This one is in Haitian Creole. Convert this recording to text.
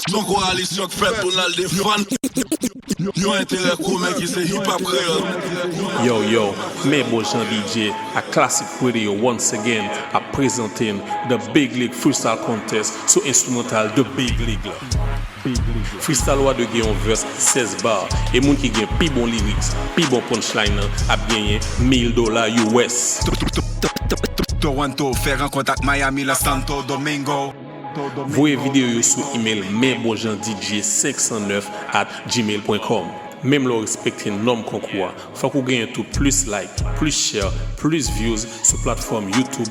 Yon koalisyon k fèt pou n al defann yon enterè komen ki se Hip Hop Kreyòl. Yo yo, men bon jan DJ ak Classic Pwede yo once again ap prezante n The Big League Freestyle Contest sou enstrimantal The Big League la. Freestyle Wa 2 gen yon verse 16 bar e moun ki gen pi bon lyrics, pi bon punchline an ap genyen 1000 dola US. Toronto fè rankont ak Miami lan Santo Domingo. Voye videyo yo sou email men bon jan DJ 509 at gmail pwen kòm menm lè w respekte nòm konkou a fòk ou genyen tou plis like plis share plis views sou platfòm youtube